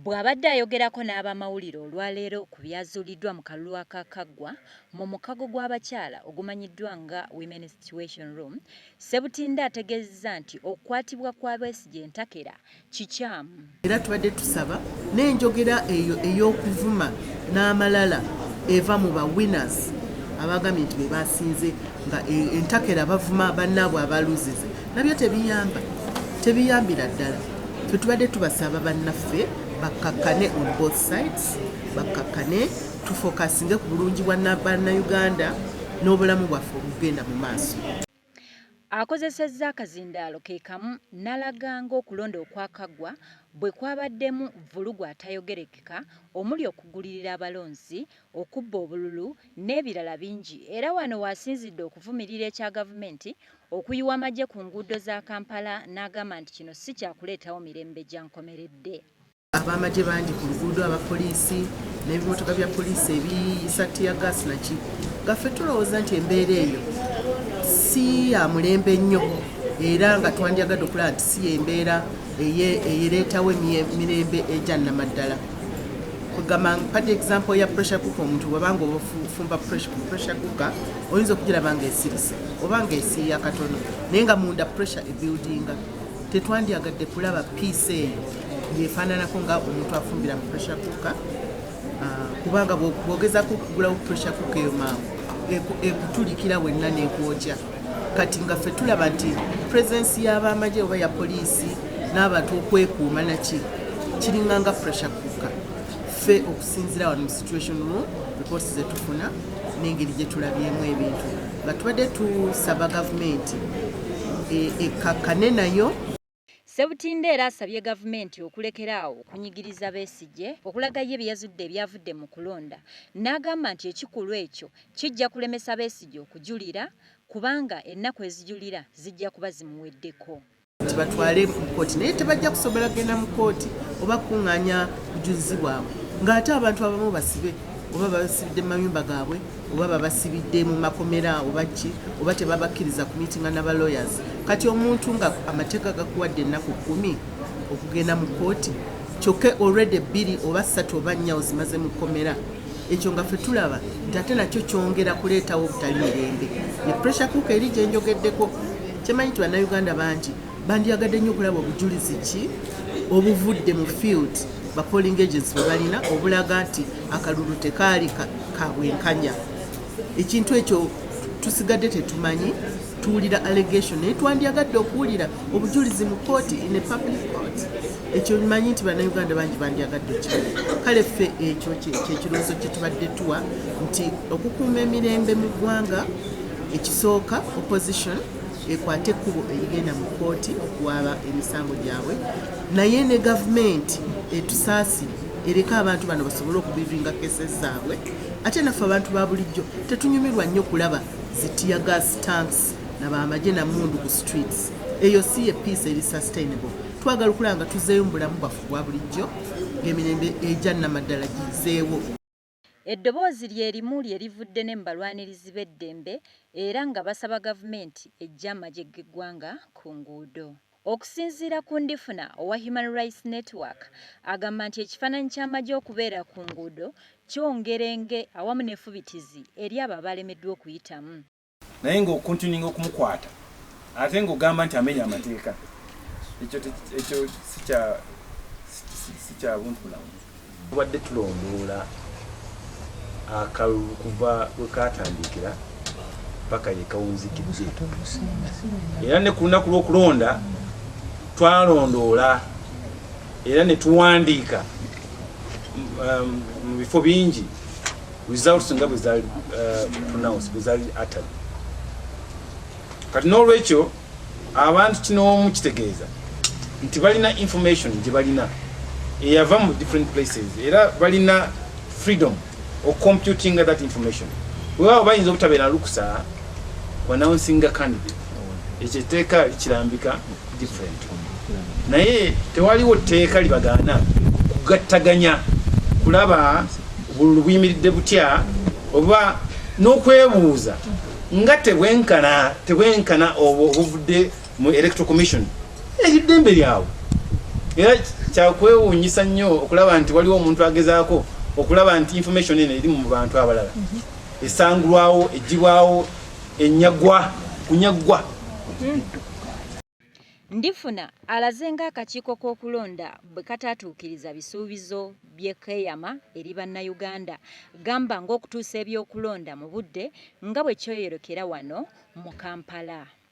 Bw'abadde ayogerako n'abamawulire olwaleero ku byazuuliddwa mu kalulu akaakaggwa mu mukago gw'abakyala ogumanyiddwa nga Women's Situation Room, Ssebutinde ategeezezza nti okukwatibwa kwa Besigye entakera kikyamu. Era tubadde tusaba n'enjogera eyo ey'okuvuma n'amalala eva mu ba winners abaagambye nti be baasinze nga e, entakera bavuma bannaabwe abaluzize nabyo tebiyamba tebiyambira ddala fe tubadde tubasaba bannaffe bakkakkane on both sides bakkakkane tufokasinge ku bulungi bwa bannayuganda n'obulamu bwaffe obugenda mu maaso akozesezza akazindaalo ke kamu n'alaga ng'okulonda okwakaggwa bwe kwabaddemu vvulugu atayogerekeka omuli okugulirira abalonzi okubba obululu n'ebirala bingi era wano w'asinzidde okuvumirira ekya Gavumenti okuyiwa amagye ku nguudo za Kampala n'agamba nti kino si kyakuleetawo mirembe gya nkomeredde. Ab'amagye bangi ku luguudo, abapoliisi n'ebimotoka bya poliisi ebiyisa ttiyagaasi naki nga ffe tulowooza nti embeera eyo si ya mulembe nnyo era nga twandyagadde okulaba nti si y'embeera eyereetawo emirembe egya nnamaddala. kugamba mpade example ya pressure cooker omuntu bwabanga obufumba pressure cooker oyinza okugiraba nga esirise oba nga esiiya katono naye nga munda pressure ebuildinga tetwandyagadde kulaba piece eyo yefaananako nga omuntu afumbira mu pressure cooker ah, kubanga bwogezako okugulawo pressure cooker eyo mangu ekutulikira wenna nekwokya e, e, kati nga ffe tulaba nti purezensi y'abaamagye oba ya poliisi n'abantu okwekuuma naki kiringa nga pressure kuka ffe okusinzira wano mu situation mu reports zetufuna n'engeri gye tulabyemu ebintu nga tubadde tusaba gavumenti e, ekkakkane nayo Ssebutinde era asabye gavumenti okulekera awo okunyigiriza Besigye okulaga ye bye yazudde ebyavudde mu kulonda n'agamba nti ekikulwa ekyo kijja kulemesa Besigye okujulira kubanga ennaku ezijulira zijja kuba zimuweddeko. nti batwale mu kkooti naye tebajja kusobola kugenda mu kkooti oba kukungaanya bujulizi bwabwe ng'ate abantu abamu basibe oba babasibidde mu mayumba gaabwe. oba babasibidde mu makomera oba ki oba tebabakkiriza ku miitinga na balawyers kati omuntu nga amateeka gakuwadde ennaku kkumi okugenda mu kkooti kyokka olredi bbiri oba ssatu oba nnya ozimaze mu kkomera ekyo nga fe tulaba nti ate nakyo kyongera kuleetawo obutali mirembe ne pressure kuuka eri gyenjogeddeko kyemanyi nti bannayuganda bangi bandyagadde nnyo okulaba obujulizi ki obuvudde mu field ba polling agents bwe balina obulaga nti akalulu tekaali ka bwenkanya ekintu ekyo tusigadde tetumanyi tuwulira allegation naye twandyagadde okuwulira obujulizi mu kooti in a public court ekyo manyi nti bannayuganda bangi bandyagadde ki kale ffe ekyo kyekirowoozo kyetubadde tuwa nti okukuuma emirembe mu ggwanga ekisooka opposition ekwate ekkubo erigenda mu kkooti okuwaaba emisango gyabwe naye ne gavumenti etusaasi ereka abantu bano basobole okubivinga kese zaabwe ate naffe abantu ba bulijjo tetunyumirwa nnyo kulaba zitiya gas tanks nabamagye namundu ku streets eyo si ye peace eri sustainable twagala okulaba nga tuzeeyo mu bulamu bwaffe bwa bulijjo ng'emirembe egya namaddala gizeewo Eddoboozi lye limu lye livudde ne mu balwanirizi b'eddembe era nga basaba gavumenti eggye amagye g'eggwanga ku nguudo. Okusinziira ku Ndifuna owa Human Rights Network agamba nti ekifaananyi ky'amagye okubeera ku nguudo kyongera enge awamu n'effubitizi eri abo abalemeddwa okuyitamu. naye nga okuntuninga okumukwata ate nga ogamba nti amenya amateeka ekyo ekyo sikya sikya buntu bulamu tubadde tulondoola akalulu kuva we katandikira paka yekawunzikidde era ne ku lunaku lw'okulonda twalondoola era ne tuwandiika um, mu bifo bingi results nga bwe zaali uh, pronounce bwe zaali atali kati n'olwekyo abantu kinoomu kitegeeza nti balina information gye balina eyava mu different places era balina freedom ocomputinga that information wewaawo bayinza obutabeera lukusa wanawunsinga candidate ekyo etteeka kirambika naye tewaliwo tteeka libagaana kugattaganya kulaba bululu buyimiridde butya oba n'okwebuuza nga tebwenkana tebwenkana obwo obuvudde mu electoral commission eri ddembe lyawo era kyakwewuunyisa nnyo okulaba nti waliwo omuntu agezaako okulaba nti information eno eri mu bantu abalala esangulwawo egibwawo enyagwa kunyagwa Ndifuna alaze ng'akakiiko k'okulonda bwe kataatuukiriza bisuubizo bye keeyama eri Bannayuganda gamba ng'okutuusa ebyokulonda mu budde nga bwe kyoyolekera wano mu Kampala.